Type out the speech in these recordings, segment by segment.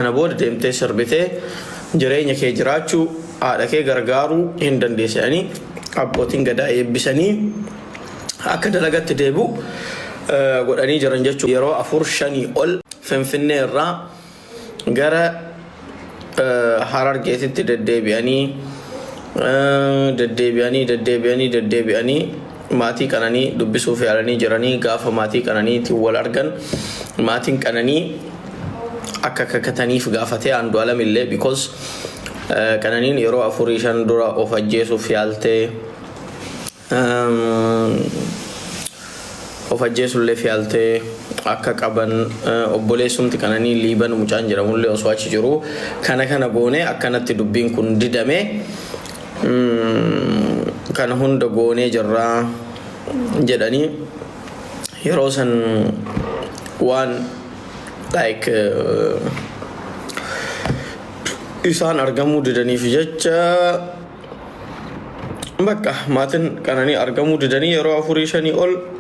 Kana booda deemtee sirbitee jireenya kee jiraachuu, haadha kee gargaaruu hin dandeessa jedhanii abbootiin Gadaa eebbisanii akka dalagatti deebi'u godhanii jiran jechuudha. Yeroo afur shanii ol Finfinnee irraa gara Harargeetitti deddeebi'anii deddeebi'anii deddeebi'anii deddeebi'anii Maatii Qananii dubbisuuf yaalanii jiranii gaafa maatii Qananiitiin wal argan maatiin Qananii akka kakataniif gaafate Andu'alam illee because Qananiin yeroo afurii shan dura of ajjeesuuf yaaltee of ajjeesulleef yaaltee akka qaban obboleessumti Qananii Liiban mucaan jedhamullee osoo achi jiru kana kana goone akkanatti dubbiin kun didame kana hunda goonee jirraa jedhanii yeroo san waan like isaan argamuu didaniif jecha bakka maatiin qananii argamuu didanii yeroo afurii shanii ol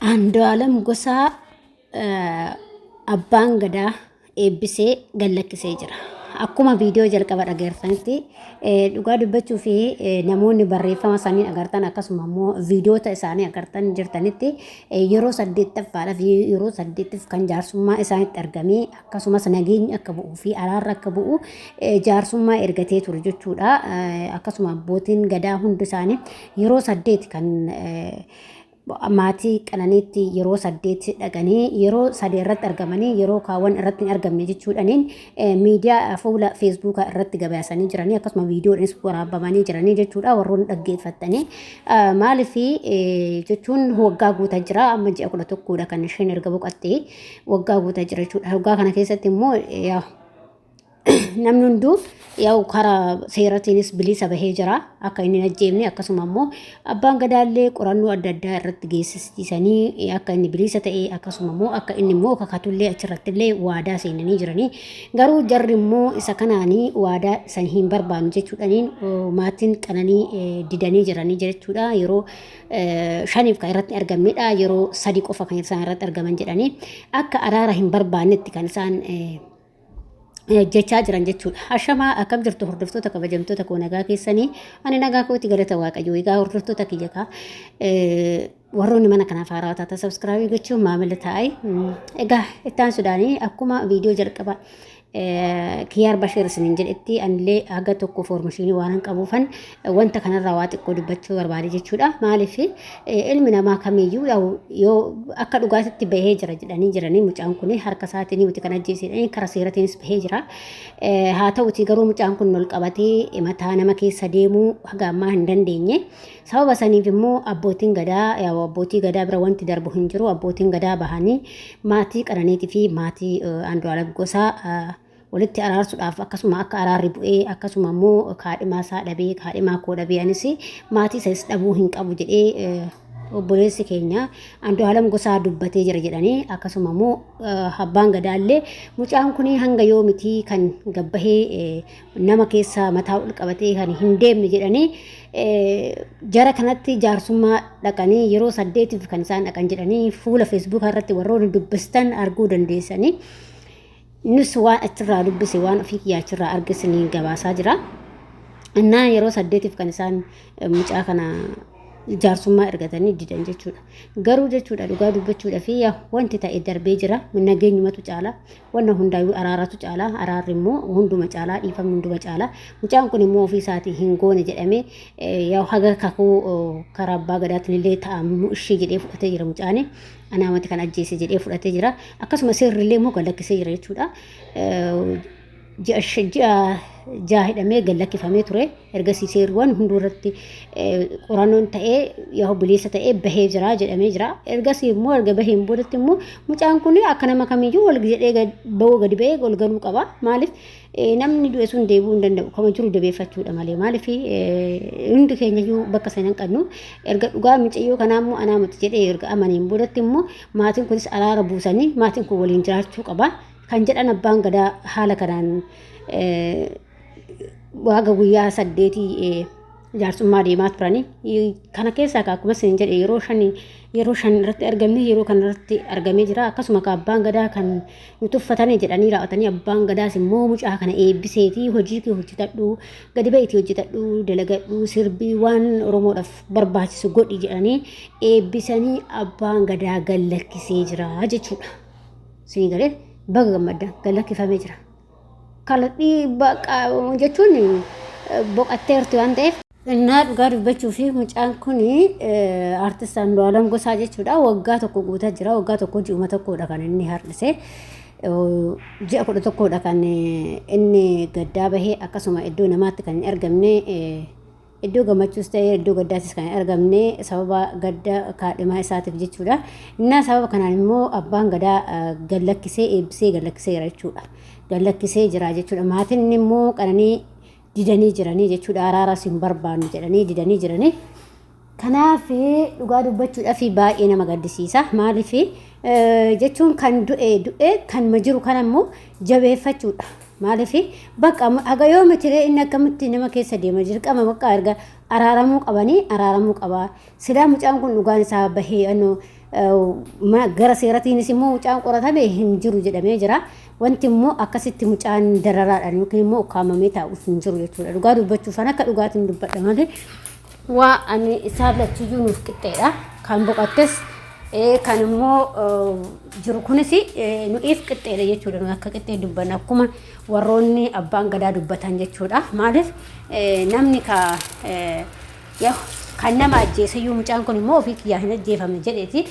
Andu'aalam Gosaa Abbaan Gadaa eebbisee gallakkisee jira. Akkuma viidiyoo jalqaba dhageertanitti dhugaa dubbachuu fi namoonni barreeffama isaanii agartan akkasuma immoo viidiyoota isaanii agartan jirtanitti yeroo saddeettaffaadhaaf yeroo saddeettaf kan jaarsummaa isaanitti argamee akkasumas nageenyi akka bu'uu fi araarri akka bu'u jaarsummaa ergatee ture jechuudha. Akkasuma abbootiin gadaa hundi isaanii yeroo saddeet kan maatii qananiitti yeroo saddeet dhaqanii yeroo sadee irratti argamanii yeroo kaawwan irratti hin argamne jechuudhaniin miidiyaa fuula feesbuukaa irratti gabaasanii jiranii akkasuma viidiyoodhaanis waraabamanii jiranii jechuudha warroonni dhaggeeffattanii maaliif jechuun waggaa guutaa jira amma ji'a kudha tokkoodha kan isheen erga boqattee waggaa guutaa jira jechuudha waggaa kana keessatti immoo namni hunduu yaa'u karaa seeratiinis bilisa bahee jira akka inni hin ajjeefne akkasuma immoo abbaan gadaallee qorannoo adda addaa irratti geessisanii akka inni bilisa ta'e akkasuma immoo akka inni immoo kakatullee achirratti illee waadaa seenanii jiranii garuu jarri immoo isa kanaanii waadaa san hin barbaannu jechuudhaniin maatiin qananii didanii jiranii jechuudha yeroo shaniif kan irratti argamnedha yeroo sadi qofa kan isaan irratti argaman jedhanii akka araara hin barbaannetti kan isaan jechaa jiran jechuudha. Ashamaa akkam jirtu hordoftoota kabajamtoota koo nagaa keessanii ani nagaa kooti galata waaqayyoo egaa hordoftoota kiyya kaa warroonni mana kanaaf haaraa taata sabskraabii gochuun maamila ta'ai egaa ittaan sudaanii akkuma viidiyoo jalqaba kiyaar basheer isiniin jedhetti anillee haga tokko foormashinii waan hin qabuufan Wanta kanarraa waa xiqqoo dubbachuu barbaade jechuudha. Maaliif ilmi namaa kamiyyuu yaa'u yoo akka dhugaatitti bahee jira jedhanii jiranii mucaan kun harka isaatiin nuti kan ajjeesedhanii karaa seeratiinis bahee jira. Haa ta'uti garuu mucaan kun ol qabatee mataa nama keessa deemuu haga ammaa hin dandeenye. Sababa saniif immoo abbootiin gadaa yaa'u abbootii gadaa bira wanti darbu hin jiru. Abbootiin gadaa bahanii maatii qananiitii fi maatii Andu'aalam Gosaa walitti araarsuudhaaf akkasuma akka araarri bu'ee akkasuma immoo kaadhimaa isaa dhabee kaadhimaa koo dhabee anis maatii isaas dhabuu hin qabu jedhee obboleessi keenya Andu'aalam Gosaa dubbatee jira jedhanii akkasuma immoo abbaan gadaallee mucaan kun hanga yoomiti kan gabbahee nama keessa mataa ol qabatee kan hin deemne jedhanii jara kanatti jaarsummaa dhaqanii yeroo saddeetiif kan isaan dhaqan jedhanii fuula feesbuukaa irratti warroonni dubbistan arguu dandeessanii. Nus waan achirraa dubbise waan ofii kiyyaa achirraa arge siniin gabaasaa jira. Innaa yeroo saddeetiif kan isaan eh, mucaa kana jaarsummaa ergatanii didan jechuudha. Garuu jechuudha dhugaa dubbachuudha fi yaa wanti ta'e darbee jira. Nageenyumatu caala. Wanna hundaayyuu araaratu caala. Araarri immoo hunduma caala. Dhiifamni hunduma caala. Mucaan kun immoo ofii isaatii hin goone jedhamee eh, yaa haga kakuu oh, karaa abbaa gadaatiin illee ta'amu ishee jedhee fudhatee jira mucaani. anaa mati kan ajjeese jedhee fudhatee jira. Akkasuma seerri illee immoo gallakkisee jira jechuudha. Ji'a jaha hidhamee gallakkifamee ture. Ergasii seerriwwan hunduu irratti qorannoon ta'ee yoo bileessa ta'ee bahee jira jedhamee jira. Ergasii immoo erga baheen boodatti immoo mucaan kun akka nama kamiyyuu wal jedhee bahuu gadi bahee wal galuu qaba. Maaliif Namni du'e sun deebi'uu hin danda'u. Kama jiru dabeeffachuudha malee. Maaliif hundi keenya iyyuu bakka sana hin qabnu. Erga dhugaa micayyoo kanaa immoo anaa miti jedhee erga amaniin boodatti immoo maatiin kunis araara buusanii maatiin kun waliin jiraachuu qaba. Kan jedhan abbaan gadaa haala kanaan waaga guyyaa saddeetii jaarsummaa deemaa turanii kana keessaa akkuma isin jedhe yeroo shan yeroo shan irratti argamne yeroo kana irratti argamee jira akkasuma ka abbaan gadaa kan nu tuffatanii jedhanii raawwatanii abbaan gadaas immoo mucaa kana eebbiseetii hojii kee hojjetadhu gadi ba'iitii hojjetadhu dalagadhu sirbii waan oromoodhaaf barbaachisu godhi jedhanii eebbisanii abbaan gadaa gallakkisee jira jechuudha. Siin galee baga gammaddan gallakkifamee jira. Kana dhiibbaa jechuun boqatteerti waan ta'eef. Innaa dhugaa dubbachuu fi mucaan kun artist Andu'aalam Gosaa jechuudha. Waggaa tokko guutaa jira. Waggaa tokko ji'uma tokkodha kan inni har'ise. Ji'a kudha tokkodha kan inni gaddaa bahee akkasuma iddoo namaatti kan hin argamne Iddoo gammachuus ta'ee iddoo gaddaattis kan hin argamne sababa gadda kaadhimaa isaatiif jechuudha. Innaa sababa kanaan immoo abbaan gadaa eh, gad lakkisee eebbisee gad lakkiseera jechuudha. Gad lakkisee jira jechuudha. Maatiin immoo qananii didanii jiranii jechuudha. Araaras hin barbaannu jedhanii didanii jiranii. Kanaaf dhugaa dubbachuudhaaf baay'ee nama gaddisiisa. Maaliif jechuun kan du'e du'e kan ma jiru kan ammoo jabeeffachuudha. Maalifi bakka haga yoo mitiree inni akkamitti nama keessa deema dirqama bakka erga araaramuu qabanii araaramuu qaba. Silaa mucaan kun dhugaan isaa bahee anno gara seeratiinis immoo mucaan qoratame hin jiru jedhamee jira. Wanti immoo akkasitti mucaan dararaadhaan yookiin immoo ukkaamamee taa'u hin jiru jechuudha. Dhugaa dubbachuuf kan akka dhugaatiin dubbadha malee Waa ani isaan lachuyyuu nuuf qixxeedha. Kan boqattes kan immoo jiru kunis nu'iif qixxeedha jechuudha. Nuyi akka qixxee dubbanna akkuma warroonni abbaan gadaa dubbatan jechuudha. Maaliif namni ka kan nama ajjeesayyuu mucaan kun immoo ofii kiyyaa hin ajjeefamne jedheeti.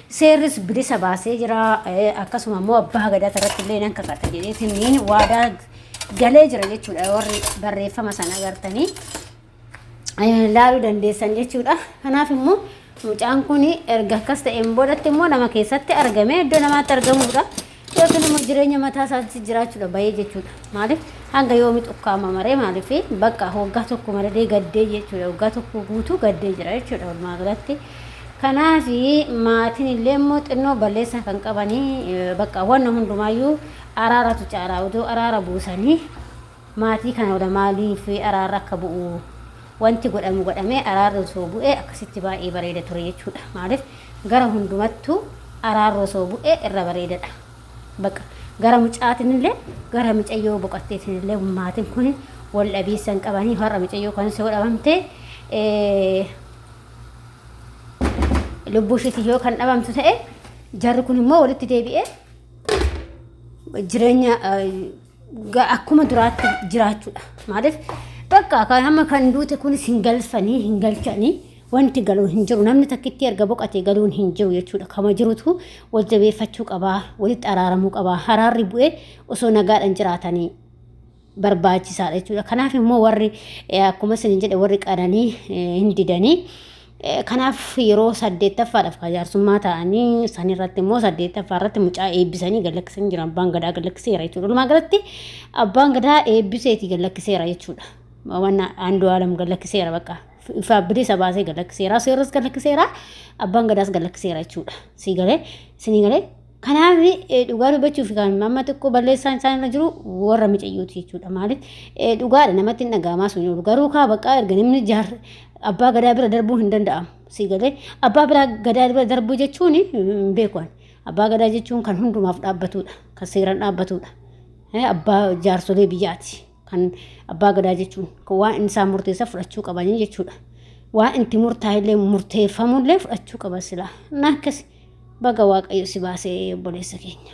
Seerris bilisa baasee jira. Akkasuma immoo abbaa gadaa irratti illee nan kakata jedheetiin waadaa galee jira jechuudha warri barreeffama sana agartanii. laaluu dandeessan jechuudha. Kanaaf immoo mucaan kun erga akkas ta'een boodatti immoo nama keessatti argame iddoo namaatti argamuudha. Yookiin immoo jireenya mataa isaatti jiraachuudha bahee jechuudha. Maaliif hanga yoomi xukkaama maree maaliif bakka waggaa tokko maradee gaddee jechuudha. Waggaa tokko guutuu gaddee jira jechuudha walumaa galatti. Kanaaf maatiin illee immoo xinnoo balleessaa kan qabanii bakka wanna hundumaayyuu araaratu caalaa odoo araara buusanii Maatii kana wada maaliif araarri akka bu'u wanti godhamu godhamee araarri osoo bu'ee akkasitti baay'ee bareeda ture jechuudha. Maaliif gara hundumattuu araarri osoo bu'ee irra bareedadha. Baqa gara mucaatiin illee gara micayyoo boqatteetiin illee maatiin kun wal dhabiinsa hin qabanii har'a micayyoo kanas yoo dhabamte lubbuu ishiitiin yoo kan dhabamtu ta'e jarri kun immoo walitti deebi'ee jireenya akkuma duraatti jiraachuudha. Maaliif bakka kan amma kan duute kunis hin galfanii hin galchanii wanti galu hin jiru namni takkitti erga boqatee galuun hin jiru jechuudha. Kama jirutu wal jabeeffachuu qabaa walitti araaramuu qabaa haraarri bu'ee osoo nagaadhaan jiraatanii barbaachisaadha jechuudha. Kanaaf immoo warri akkuma isin jedhe warri qananii hin didanii Kanaaf yeroo saddeettaffaadhaaf kan jaarsummaa ta'anii sanirratti immoo saddeettaffaa irratti mucaa eebbisanii gallakkisanii jiran abbaan gadaa gallakkiseera jechuudha. Walumaa galatti abbaan gadaa eebbiseeti gallakkiseera jechuudha. Wanna aandu alam gallakkiseera bakka ifa bilisa baasee gallakkiseera seeras gallakkiseera abbaan gadaas gallakkiseera jechuudha. Sii galee sinii galee Kanaaf dhugaa dubbachuuf amma xiqqoo balleessaan isaan irra jiru warra micayyooti jechuudha. Maaliif dhugaadha namatti hin dhaga'amaa sun jiru. Garuu kaa baqqaa erga namni jaar abbaa gadaa bira darbuu hin danda'amu. Si galee abbaa biraa gadaa bira darbuu jechuun hin beeku ani. Abbaa gadaa jechuun kan hundumaaf dhaabbatudha. Kan seeraan dhaabbatudha. Abbaa jaarsolee biyyaati. kan abbaa gadaa jechuun kan waan inni isaan murteessa fudhachuu qabanii jechuudha. Waan itti murtaa'ellee murteeffamullee fudhachuu qaba silaa. Akkas baga waaqayyo si baasee obboleessa keenya.